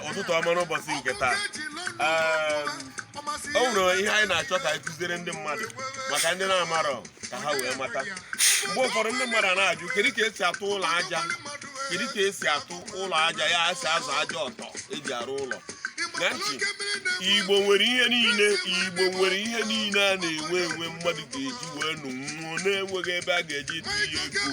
ụtụtụ ọma n'ụbọsị nke taa o nwere ihe anyị na-achọ ka anyị kuziere ndị mmadụ maka ndị na-amarọ ka ha wee mata mgbe ụfọdụ ndị mmadụ na-ajụ kedu ka esi atụ ụlọ aja kedu ka esi atụ ụlọ aja ka esi azọ aja ọtọ eji arụ ụlọ na ndị igbo nwere ihe niile igbo nwere ihe niile a na-enwe enwe mmadụ ga-eji wee nụ nwụọ na-enweghị ebe a ga-eji etinye ego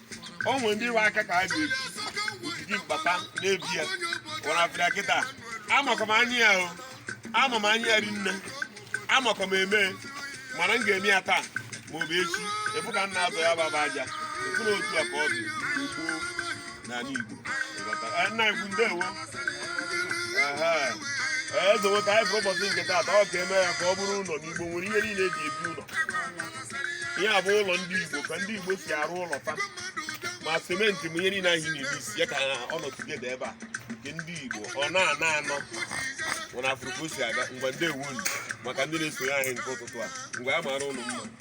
o nwere ndị iwe aka ka a ga-eji ojiji mkpata na-ebi ya wara afịrịa kịta amakwa m anya ya o ama m anya ya rinne amakwa m eme mana m ga-eme ya taa ma ọ bụ echi ị fụ ka m na-azọ ya baba aja ị fụ na otu a ka ọ dị gboo n'ala Igbo Ịghọta? Eh, nna ikwu ndewo Aha. eze nweta anyị fụrụ ụbọchị nke taata ọ ga-eme ya ka ọ bụrụ ụlọ na igbo nwere ihe niile eji ebi ụlọ ihe a bụ ụlọ ndị Igbo ka ndị Igbo si arụ ụlọ fa ma simenti ma ihe niile anyị na-emix ya ka ọ nọ together ebe a nke ndị Igbo ọ na-anọ anọ unu afụrụ ka o si aga ngwa ndewo nu maka ndị na-esonye anyị nke ụtụtụ a ngwa ya mara unu mma